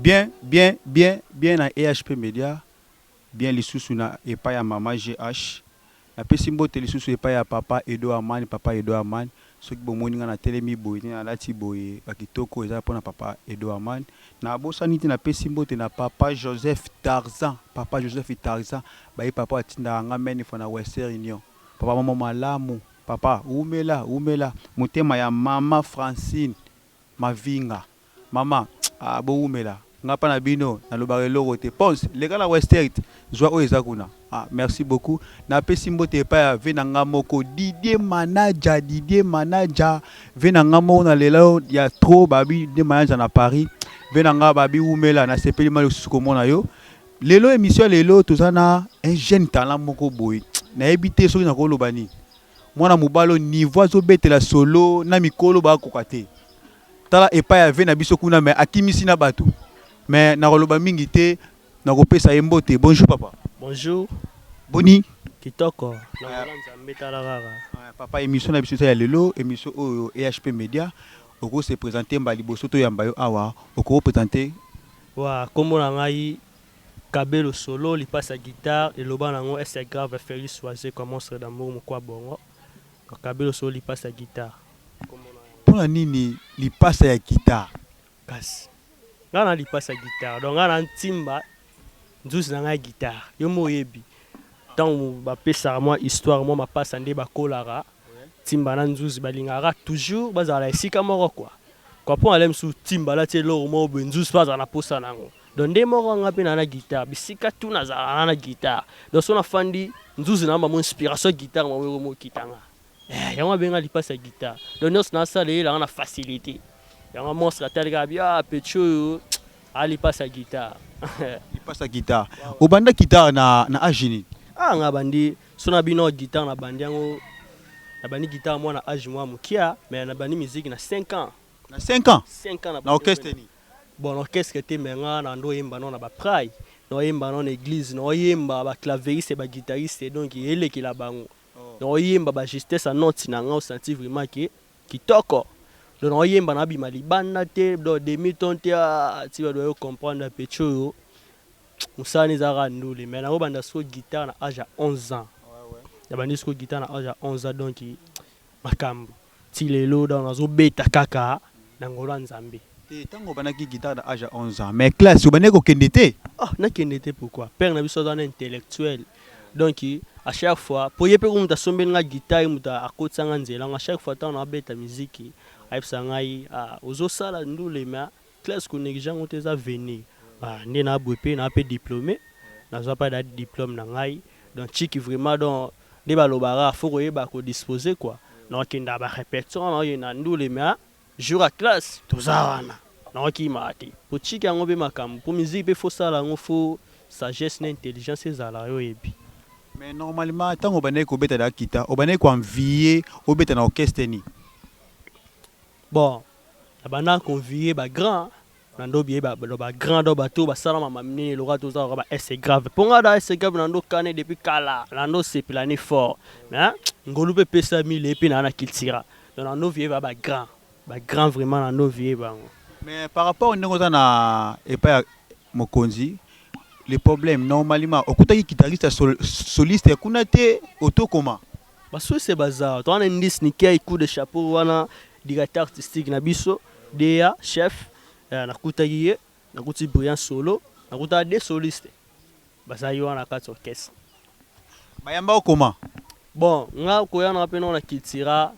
Bien bien bien bien na EHP media bien lisusu na epai ya maman GH na pesi mbote lisusu epai ya papa Edo Amani papa Edo Amani soki bomoni nga na telemi boye na lati boye ba kitoko eza pona papa Edo Amani na bosani te na pesi mbote na papa Joseph Tarzan papa Joseph Tarzan baye papa oyo atindaka nga many fois na Western Union papa moko malamu papa wumela wumela motema ya maman Francine Mavinga maman ah bo wumela nga pa na bino na lobaka eloko te pons leka na westert zua oyo eza kuna ah merci beaucoup na pesi mbote epa ya vie na nga moko Didier manager Didier manager vie na nga moko na lela yo ya trop babi Didier manager na Paris vie na nga babi wumela na sepeli ma lisusu ko mona yo lelo emission ya lelo toza na un jeune talent moko boye na yebi te soki na ko loba nini Mwana mobali oyo niveau azo betela solo na mikolo ba koka te tala epai ya vie na biso kuna mais akimisi na batu mais na koloba mingi te na kopesa ye mbote bonjour papa bonjour boni kitoko na ngala nzambe tala kaka papa emission na biso eza ya lelo emission oyo EHP media oko se presenter mba liboso to yamba yo awa oko presenter. Wa kombo na ngai Cabelo solo lipasa guitare eloba na ngo est grave Felix wazekwa monstre d'amour mukwa bongo donc cabelo solo lipasa guitare kombo na yango. Pona nini lipasa ya guitare? Kasi nga na lipasa guitare donc nga na timba nzuzi na nga ya guitare yo moko oyebi tangu ba pesaka mwa histoire mwa mapasa nde ba kolaka timba na nzuzi ba lingaka kaka toujours ba zala na esika moko quoi quoi pona lelo misusu timba alati eloko moko boye nzuzi pe azala na posa na ngo Donc nde moko nga pe na na guitare bisika tout na zala na na guitare donc so na fandi nzuzi na mamo inspiration ya guitare mamo eko mo kita nga eh yango abenga lipasi ya guitare donc nionso na sala eyela nga na facilite yango monstre atali kaka bi ah petit oyo a lipasi ya guitare lipasi ya guitare obanda guitare na na age nini ah nga bandi so na bino guitare na bandi yango na bandi guitare mwana age mwa mokia mais na bandi musique na 5 ans na 5 ans 5 ans na orchestre nini Bon no qu'est ce que te mais nga na ndo yemba no na ba pray no yemba no na eglise no yemba ba claveriste ba guitariste donc elekela bango no yemba ba justesse ya note na nga osanti vraiment que kitoko donc no yemba na bima libanda te donc demi ton te ah ti ba doyo comprendre petit oyo musala na eza kaka ndule mais na ko banda siko guitare na age ya 11 ans na bandi siko guitare na age ya 11 ans donc makambu Ti lelo donc nazo beta kaka na ngolu ya nzambe. Te tango obandaki guitare na age ya 11 ans mais classe obandaki ko kende te? Ah na kende te pourquoi? Père na biso aza na intellectuel donc à chaque fois po ye pe kutu mutu asombeli nga guitare ye mutu akotisa nga nzela yango à chaque fois tango nao beta miziki ayebisaka ngai ah ozo sala ndule mais Classe ko negliger yango te eza venir ah nde na boye pe na pe diplome nazua pa da diplome na ngai donc chic vraiment donc nde ba loba ka faut koyeba ko dispose quoi nao kenda ba repetition nao kenda ndule mais ah jour ya classe toza wana nao kima te po chic yango pe makambu po musique pe faut sala yango faut sagesse na intelligence ezala yo yebi. Mais normalement tango obandaki ko beta da kita obandaki ko envier obeta na orchestre nini? Bon. Na banda ko envier ba grands na ndo biye ba ba grand do bato ba sala mama minene lokola to zala ba ese grave po nga da ese grave na ndo kane depuis kala na ndo sepela ni fort mais ngolu pe pesa mi le pe na na kiltira donc na ndo vie ba ba grand ba grand vraiment na ndo vie bango mais par rapport ndenge oza na epa ya mokonzi le problème normalement okutaki kitariste ya soliste ya kuna te oto koma Ba suisse baza to wana indice ni kei coup de chapeau wana directeur artistique na biso Dea chef eh, nakutaki ye nakuti brillant solo nakutaka de soliste bazali wana kati orchestre bayamba okoma bon nga koya na pe na cultura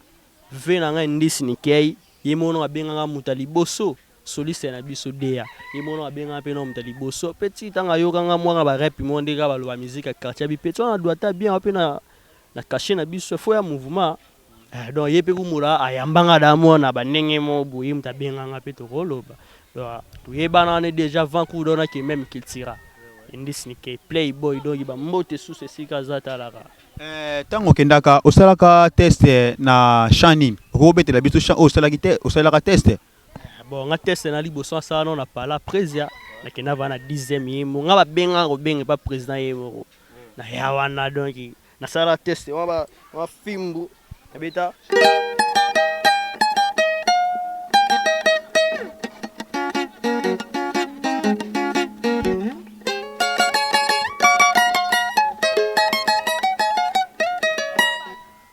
ve na nga indice ni kei ye mono abenganga muta liboso Soliste na biso Dea ye moko nao abengama pe nao moto ya liboso petit tango ayoka nga mwana ba rep moko nde kaka ba loba musique ya quartier abi petit wana aduata bien wapi na na cachet na biso faut ya mouvement eh donc ye pe kumola ayamba nga da mwana ba ndenge moko boye ye moto abenga nga pe toko loba donc toyebana wana dejà avant cours donc na ke meme cultura indice ni ke play boy donc ba mbote susu esika aza talaka. Eh tango okendaka osalaka test na chant nini okoki kobetela biso chant oyo osalaki te osalelaka test? Bon nga teste na liboso asala no na pala prezia na kenda vana na dixième ye mo nga ba benga ko benga pa president ye moko na ya wana donc na sala teste wa ba wa fimbu na beta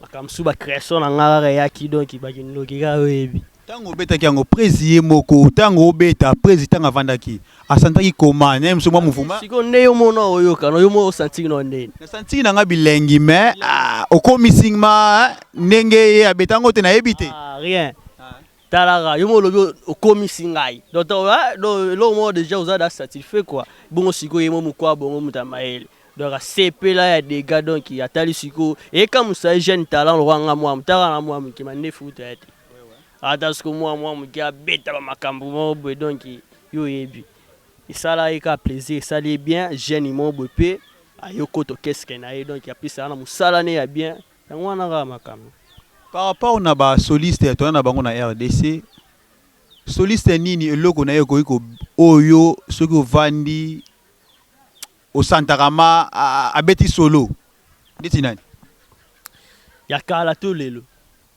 Makambo mosusu ba creation na nga kaka eyaki donc ba kindoki kaka yo oyebi. Tango obetaki yango Prezi ye moko tango obeta Prezi tango avandaki a santaki comment naye mosusu mwa mouvement? Sikoyo nde yo moko nao oyoka no yo moko o santiki nao ndeni? Na santiki na nga bilengi mais ah okomi sing ma ndenge ye abeta yango te nayebi te. Ah rien. Talaka yo moko olobi okomisi ngai donc eloko moko dejà oza da satisfait quoi bongo sikoyo ye moko mukwa bongo moto ya mayele donc asepela ya dega donc atali sikoyo ekamusa ye jeune talent lokola nga mwa mutaka na mwa moke mandefu kutu aya te ata sikoyo mwa mwa moke abeta ba makambo moko boye donc yo oyebi esala ye kaka plaisir esali ye bien jeune moko boye mpe aye okoto keske na ye donc apesa wana mosala ne ya bien Yango wana kaka makambo. Par rapport na ba solistes toza na bango na rdc, soliste nini eloko na ye ekoki ko oyo yo soki ovandi o santaka ma abeti solo ndeti nani? Ya kala to lelo?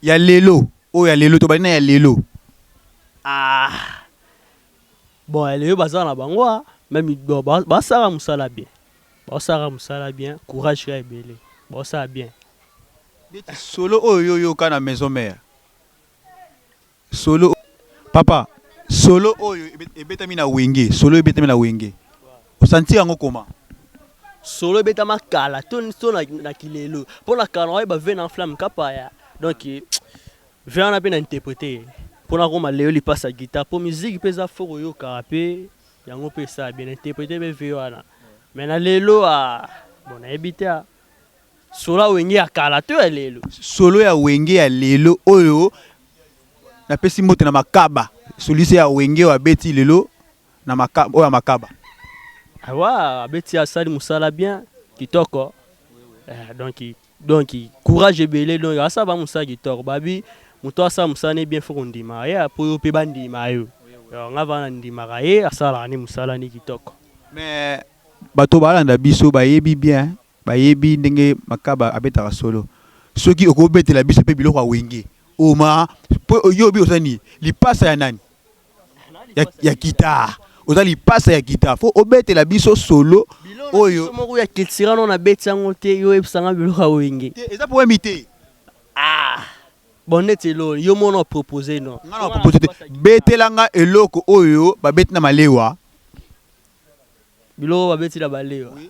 Ya lelo oyo ya lelo tobandi na ya lelo. Ah bon ya lelo baza na bango meme basala mosala bien. Baosalaka musala bien courage kaka ebele baosala bien. Neti solo oyo yo yoka na maison mère solo papa solo oyo ebetami na wenge solo ebetami na wenge o sentir yango comment? Solo ebetama kala to na kilelo po na kala na oyeba vue na flamme kapaya donc vue wana pe na interprete ye po nakoma leo lipasa guitare po musique pe eza faut koyoka pe Yango pe esala bien interprete pe vie wana mais na lelo aah bon nayebi te aah solo ya wenge ya kala to ya lelo? Solo ya wenge ya lelo oyo na pesi mbote na makaba soliste ya wenge oyo abeti lelo na makaba oyo ya makaba. Awa abeti asali musala bien kitoko eh donc. Donc courage ebele donc asala ba musala kitoko babi mutu asala musala ne bien faut kondima ye po yo pe bandima yo donc nga vraiment na ndimaka ye asalaka ne musala ne kitoko. Mais bato balanda biso bayebi bien bayebi ndenge makaba abetaka solo soki okobetela biso pe biloko ya wenge oma po oyobi oza nini lipasa ya nani. ya, ya guitare oza lipasa ya guitare fo obetela biso solo oyo moko ya culture no na beti yango te yo oyebisa nga biloko ya wenge te eza problème te ah bon neti elo yo mona propose no nga na propose te betela nga eloko oyo babeti na malewa biloko babeti na malewa oui.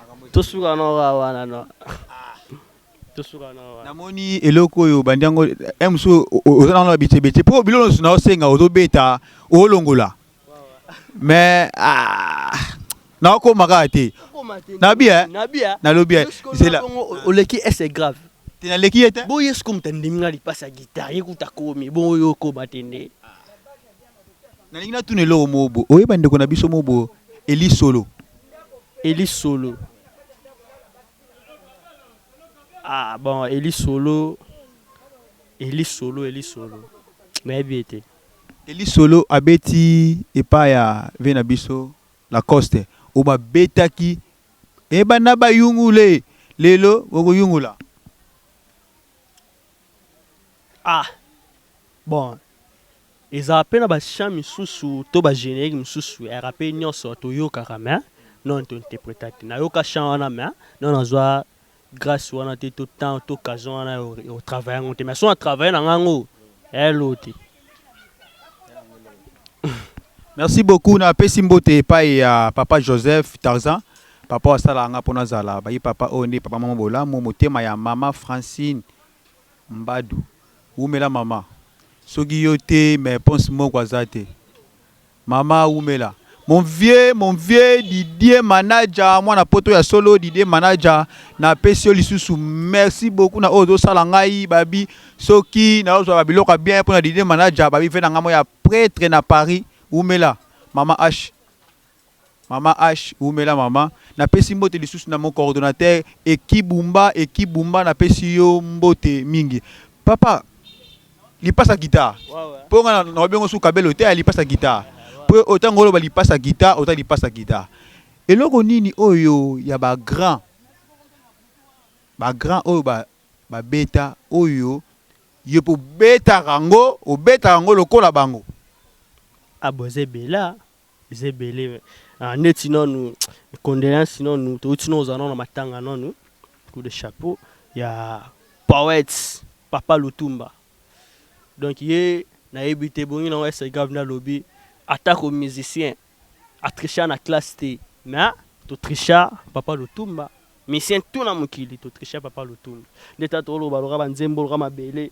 tosuka na oka wana no tosuka na oka namoni eloko oyo bandi yango eh, mosusu oza nango na babitebete mpo biloko nyonso naosenga ozobeta olongola mais ah, naokoma kaka te nabi eh? nalobi eh, zela oleki ese grave te naleki ye te boye sikoyo moto andimi ngai lipasi ya gitare ye kuta komi boyo okoma te nde Nalingi natuna eloko moko boye, oye bandeko na biso moko boye Elie Solo? Elie Solo? Ah bon, Elie Solo, Elie Solo, Elie Solo, nayebi ye te. Elie Solo abeti epai ya vie na biso Lacoste, oyo babetaki e banda bayungule lelo bokoyungula. Ah! Bon ezalaka pe na ba chants misusu to ba generiques misusu ya rappeurs nionso toyokaka mais non to interpreta te. Nayoka chant wana mais non nazua grace wana te to temps to occasion wana ya ko travailler yango te mais soki na travailler na ngai yango, eh loo te. merci beaucoup na pesi mbote epai ya papa joseph tarzan papa asala nga mpo nazala bayi papa oyo nde papa mama bolamu motema ya mama francine mbadu wumela mama soki yo te mais ponse moko aza te Maman wumela mon vieux mon vieux Didier manager mwana poto ya solo Didier manager na pesi yo lisusu merci beaucoup na oyo ozo sala ngai babi soki na ozwa ba biloko ya bien pona Didier manager babi vena ngai moya pretre na Paris wumela maman H. Maman Ach wumela maman. Na pesi mbote lisusu na mon coordonateur Eki Bumba Eki Bumba na pesi yo mbote mingi papa lipasa guitar po nga na lobi yango su kabelo te ya lipasa guitar po oyo tango oloba lipasa guitar ota lipasa guitar eloko nini oyo ya ba grand ba grand oyo ba ba beta oyo yo pe obetaka yango obetaka yango lokola bango? Ah boza ebela. Eza ebele ah, neti nanu condoleance nanu touti nanu ozala nanu na matanga nanu coup de chapeau ya poète papa lutumba donc ye nayebi te ebongi nango ese grave nde alobi atako musicien atricha na classe te mais totricha papa lutumba misien tuna mokili totricha papa lutumba nde ta toloba loka banzembo loka mabele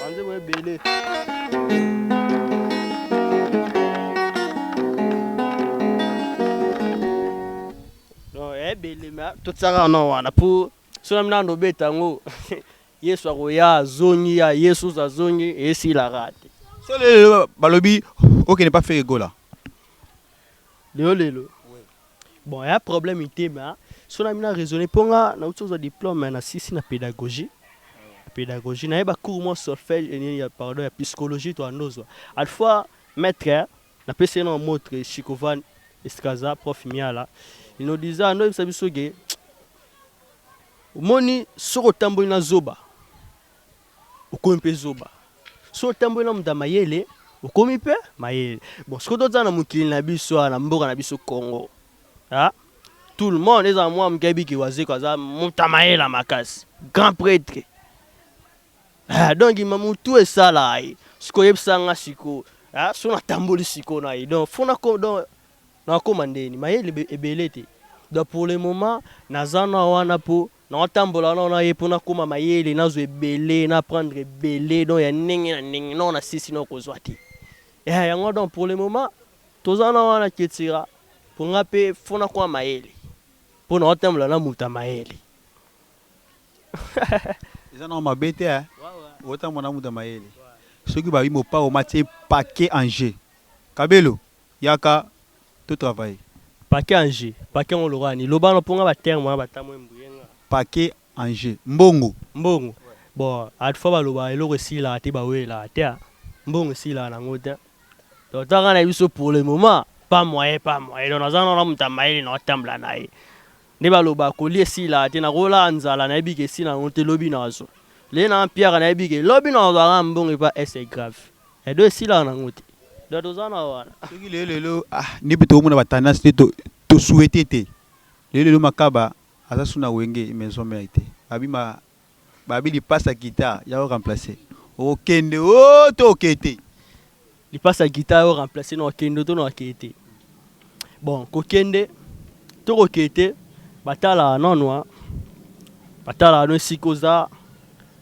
banzembo ebele ebele ma totisaka na wana po sona mina nobeta yango yesu akoya azongi ya yesu azongi esilaka te so lelo balobi okende pa fere gola lelo lelo Bon y'a problème te mais soki na bino na raisonner po nga na wuti kozwa diplome na silisi na pedagogie pedagogie na ye ba cours mwa solfège et nini ya pardon ya piscologie to ando zwa alpha maitre na pesi ye nao motre chikovan eskaza prof miala inodiza ando yebisa biso ke omoni soki otamboli na zoba Okomi pe zoba soki otamboli na moto ya mayele okomi pe mayele bon sikoyo totala na mokili na biso awa na mboka na biso Congo ah tout le monde ezala mwa moke ayebi ke wazekwa aza moto ya mayele ya makasi grand pretre ah donc ma mutu esala ye sikoyo yebisa nga sikoyo ah soki natamboli sikoyo na ye donc fo nako donc nakoma ndeni mayele ebele te donc pour le moment naza na wana po Nao tambola nao na ye po na koma mayele, na zwa ebele, na apprendre ebele donc ya ndenge na ndenge nao na sisi nao ko zwa te. Eeh yango donc pour le moment toza nao wana etc. Po nga pe faut na koma mayele po nao tambola na moto ya mayele. Eza nao mabe te hein o tambola na moto ya mayele soki ba bi mopao ma tie paquet en jeu kabelo. Yaka to travailler. Paquet en jeu paquet yango lokola nini loba no po nga ba terme wana ba tamwe mbue nga. Paquet en jeu mbongo. Mbongo bon at fois ba loba eloko esilaka te ba welelaka te mbongo esilaka na ngo te donc to nga na biso pour le moment pas moyen pas moyen donc naza nao na moto ya mayele nao tambola na ye nde ba loba ko lia esilaka te nako lala nzala na yebi ke esila ngo te lobi nazwa lelo na mpiaka na yebi ke lobi nazwa kaka mbongo epa ese grave. Edo esilaka nango te donc toza na wana. Soki lelo lelo ah nde pe tokomona ba tendance nde to to souhaiter te lelo lelo makaba aza su na wenge maison mère te ba bima ba bi lipasa guitar ya o remplacer okende oh to oke te lipasa guitar ya o remplacer na okende to na oke te bon kokende to koke te ba tala nano ba tala no esika oza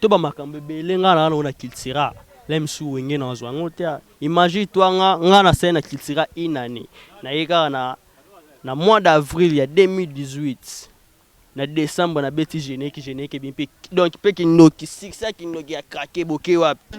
To ba makambo ebele nga na nana na cultura lem su wenge na zwa ngo te imagine toi nga nga na sali na cultura une année na ye kaka na na mois d'avril ya 2018 na decembre na beti geneki geneki bi mpe donc mpe kindoki succès ya kindoki ya craquer boke wapi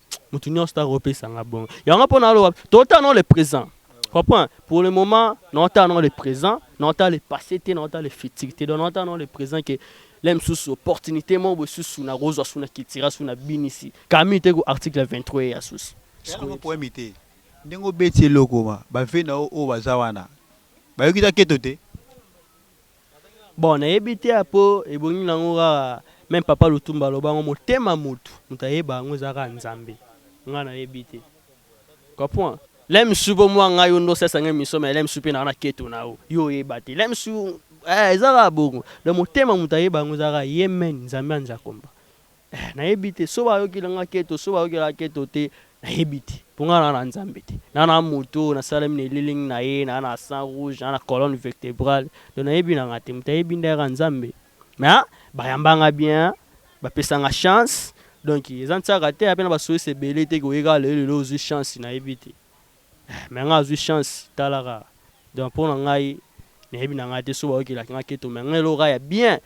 mutu nyonso ta kopesa nga bongo yango mpo naloba totala nao le présent comprend pour le moment naotala nao le présent naotala le passé te naotala le futur te donc naotala nao le présent ke le mosusu opportunité moko boye susu nakozwa su na kitira su na binisi kami te ku article 23 ya susu poemi te ndenge obeti eloko ma bave na yo oyo baza wana bayoki ta keto te Bon nayebi te ya po ebongi nango kaka meme papa lutumba aloba yango motema mutu mutu ayeba yango eza kaka nzambe nga nayebi te comprend lemsu po mua nga yo nde osalisa nga emission mais lemsu pe naza na keto na yo yo oyeba te lemsu eh eza kaka bongo donc motema mutu ayeba yango eza kaka ye meme nzambe anzakomba Eh nayebi te soki bayokela nga keto soki bayokela nga keto te nayebi te po nga naza na Nzambe te naza na moto oyo nasalemi na elilingi na ye naza na sang rouge naza na colonne vertebrale donc nayebi na nga te moto ayebi nde kaka Nzambe mais bayamba nga bien bapesa nga chance donc eza ntiaka te ape na basoyisi ebele te koye kaka lelo lelo ozwi chance nayebi te eh, mais nga azwi chance tala kaka donc mpo na ngai nayebi na ngai te soki bayokelaki nga keto mais nga eloko kaka ya bien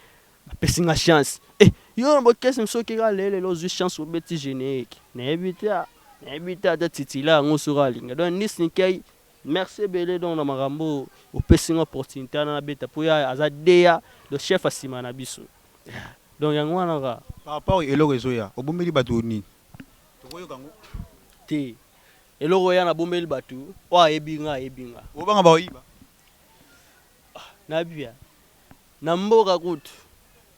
Ba pesi nga chance eh yo na bokesem soki kaka le lelo ozui chance obeti generique na yebi te ah na yebi te ata titulaire yango soki alinga donc Nice Nikey merci ebele donc na makambo oyo opesi nga opportunite wana na beta po ya aza dea donc chef ya sima na biso yeah donc yango wana kaka. Par rapport eloko ezo ya obombeli batu nini? Toko yoka yango te eloko ya na bombeli batu oyo ayebi nga ayebi nga. Ozo banga ba ko yiba? nabia na mboka kutu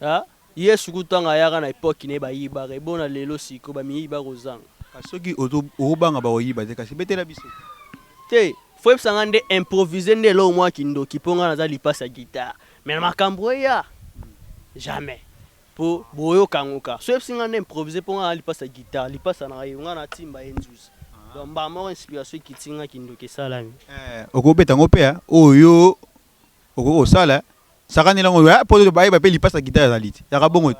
ah, yesu kutu tanga ayaka na epoque ne bayibaka ebona lelo siko bamiyibi bakozanga kasi soki ozo obanga bakoyiba te kasi betela biso te foyebisa nga nde improvise nde eloko mwa kindoki mpo nga naza lipasi ya guitare mais na makambo eya jamais Po boyoka yango ka. Soki oyebisi nga na improviser po nga na lipasa ya guitare, lipasa na yo nga na timba ye nzuzi. Donc mbala moko inspiration ekiti nga kindoki esalami. Eh okoki kobeta yango pe hein oyo yo okoki kosala sakanela yango hein po bayeba pe lipasa ya guitare ezali te yaka bongo te.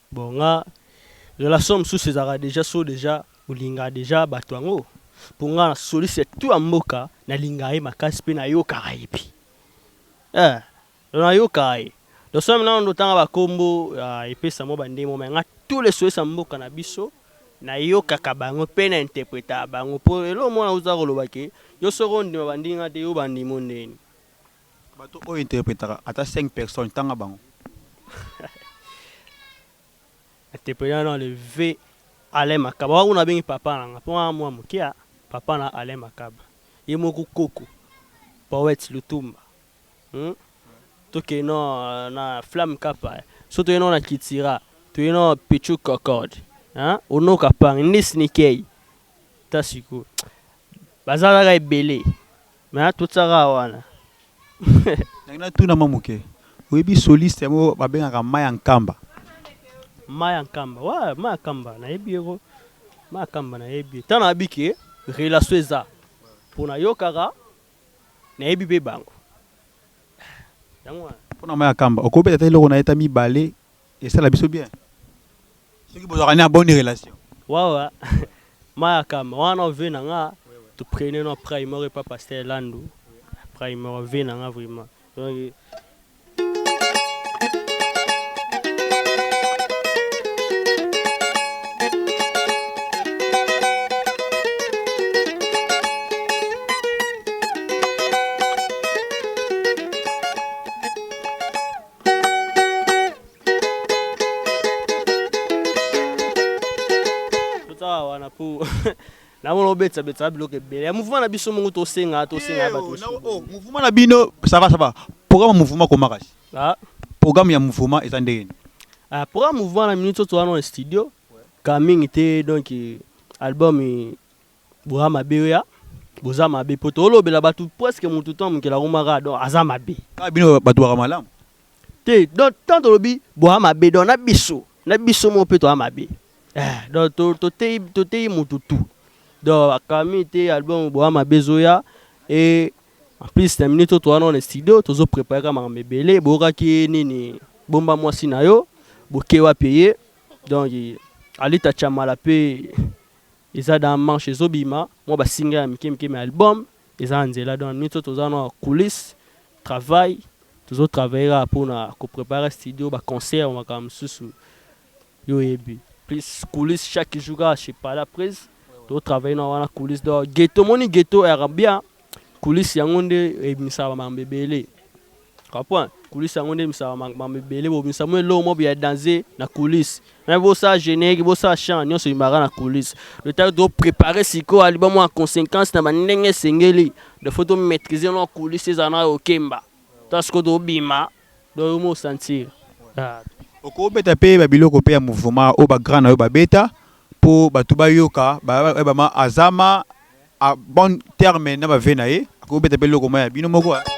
Bon nga relation mususu ezalaka dejà soki dejà olingaka dejà batu yango po nga na soliste ya tout ya mboka na lingaka ye makasi pe na yokaka ye pe eh donc na yokaka ye donc soki nanu ozo tanga ba kombo ya epesa mua ba ndenge moko mais nga tous les solistes ya mboka na biso na yokaka bango pe na interpretaka bango po eloko moko na usa koloba ke yo soki ondima ba ndimi nga te yo ba ndimi yo ndenge nini? Bato oyo interpretaka ata cinq personnes tanga bango. Na interpreta na le vieux Alain Makaba wana kuna na bengi papa na nga po nga na mua muke a papa na Alain Makaba ye moko koko poète lutumba hum to kende na na flamme kappa soki toye na na kithira toye na pitshou kokod hein ono kapange nde snikey ta sikoyo baza kaka ebele Mais a totisa kaka wana. Nalingi na tuna mwa moke, oyebi soliste yango ba bengaka Maya Nkamba? Maya Nkamba, ouais Maya Nkamba na yebi ye ko, Maya Nkamba na yebi ye, tango na yebi ke relation eza, po na yokaka, na yebi pe bango, eh yango wana. Pona Maya Nkamba, oko beta ata eloko na ye ata mibale? Esala biso bien soki bozalaka na bonne relation. Wawa mayakama wana vie na nga to prenez no pray moko epa pasteur landu pray moko vie na nga vraiment donc namona obetisa betisa biloko ebele ya mouvement na biso moko tosenga tosenga ya bato eh, oh, oh, mouvement na bino sava sava programme ya mouvement komakasi ah. programme ya mouvement eza ndenge nini ah, programme mouvement na minute oyo toza na studio ka mingi te donc album Boza mabe oya boza mabe po tolobela batu presque mutu temps mokela komaka donc aza mabe. Kaka bino batu baka malamu. Te donc tant tolobi boza mabe donc na biso na biso moko pe toza mabe eh donc to toteyi toteyi mutu tout donc camille te album boza mabe ezoya et en plus na minute oyo toza nao na studio tozo prepare kaka makambo ebele boyokaki ye nini bomba mwasi na yo boke wapi eye donc alita chamala pe Eza dans marche ezo bima mwa ba singa ya mike mike mais album eza na nzela donc nioso toza na coulisse travail tozo travailler kaka pona ko preparer studio ba concert ba makambo mususu yo oyebi plus coulisse chaque jour kaka chez pala prise tozo travailler na wana coulisse donc ghetto omoni ghetto ayaka bien Kulisi yango nde ebimisaka bamakambo ebele. Kapwa, kulisi yango nde ebimisaka bamakambo ebele. Bobimisa mwa eloko moko ya danze na kulisi. Na bosala generique, bosala chant, nyonso ebimaka na kulisi. Le temps to préparer sikoyo album en conséquence na ba ndenge esengeli. Donc faut to maitriser na kulisi ezala na yokemba. Tala sikoyo tobima. Donc yo moko o sentir ahh. Oko beta pe ba biloko pe ya mouvement oyo ba grand na yo ba beta po batu ba yoka ba yeba ma aza ma a bon terme na ba vues na ye ako beta pe eloko moko ya bino moko ahh.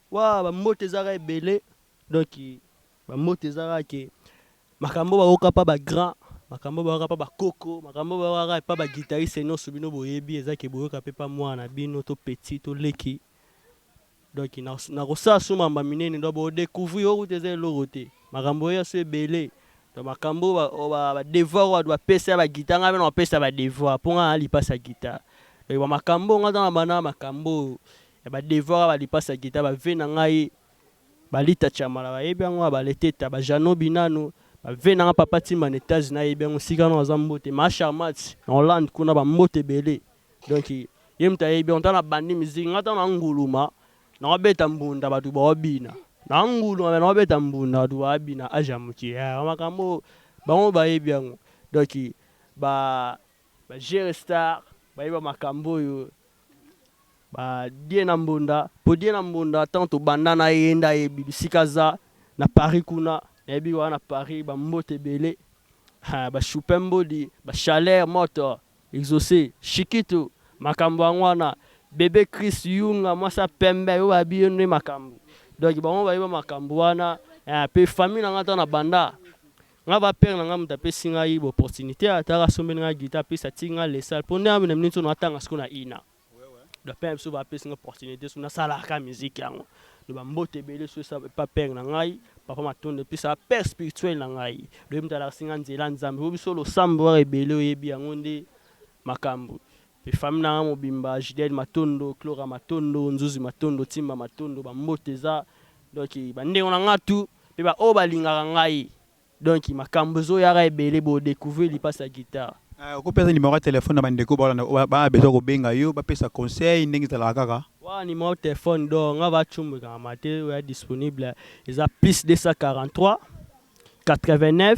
Waa ba mbote eza kaka ebele donc ba mbote eza kaka ke makambo oyo bayoka pa ba grand makambo oyo bayoka pa ba koko makambo oyo bayoka kaka epa ba guitariste nionso bino boyebi eza ke boyoka pe pa mwana na bino to petit to leki donc na kosala su mamba minene donc bo decouvrir oyo kutu eza eloko te makambo oyo ya su ebele donc makambo oyo ba devoir oyo batu ba pesa ya ba guitare ngai pe nako pesa ba devoir po ngai naza lipasa guitare donc ba makambo oyo ngai naza na ba makambo oyo Ya ba devoir ya ba lipas ya guitar ba vie na ngai ba lita tshamala ba yebi yango ya ba leteta ba jeannot binanu ba vie na nga papa timba na etats unis ayebi yango esika wana baza mbote ma charmats na hollande kuna ba mbote ebele donc ye mutu ayebi yango tango na bandi musique nga tango na nguluma nao beta mbunda batu bao bina nao nguluma mais nao beta mbunda batu ba bina age ya mukie ya makambo oyo bango ba yebi yango donc ba Ba jere star bayeba makambu oyo ba diena mbonda po diena mbonda tango tobanda naye ye nde ayebi bisika aza na paris kuna nayebi wana na paris ba mbote ebele haa ba chupin mbodi ba chaleur moto exauce chikitu makambu yango wana bebe chris yunga mwasi ya pembe oyo bayebi ye nde makambu donc bango bayeba makambu wana eeh pe famille nanga tango na banda Nga ba père na nga mutu apesi ngai ba opportunite ata aka sombeli ngai guitare plus atiki ngai le salle po nde na minute oyo na tanga sikoyo na ina donc père na biso ba pesi ngai opportunite soki na sala kaka musique yango donc ba mbote ebele soki eza epa père na ngai papa matondo et puis sa père spirituel na ngai donc ye mutu alakisi ngai nzela nzambe po biso losambo kaka ebele oyebi yango nde makambu Pe famille na nga mobimba Judeline Matondo, Clora Matondo, Nzuzi Matondo, Timba Matondo, ba mbote eza donc ba ndeko na nga tout pe ba oyo ba lingaka ngai donc makambu ezo yaka ebele bo decouvrir lipasa ya guitare. Eh oko pesa numero ya telephone na ba ndeko ba landa ba na besoin ko benga yo ba pesa conseil ndenge ezalaka kaka? Wawa numero ya telephone donc nga va tshombo ekangamaka te oyo eza disponible eza plus 243 89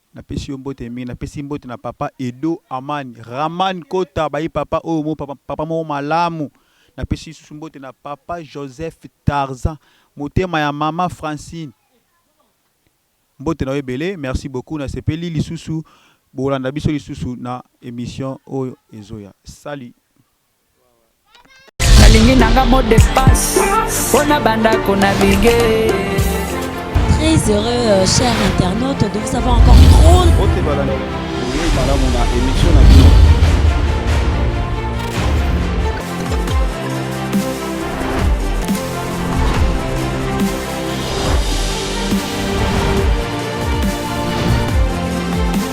Napesi yo mbote mingi napesi mbote na papa edo aman raman kota bayi papa oyo mo papa papa moko malamu napesi lisusu mbote na papa joseph tarzan motema ya mama francine mbote na yo ebele merci beaucoup na sepeli lisusu bolanda biso lisusu na emission oyo ezoya salut nalingi nanga mot de passe mpo na bandako na bige très heureux euh, cher internaute de vous avoir encore trop malamu na émission na bino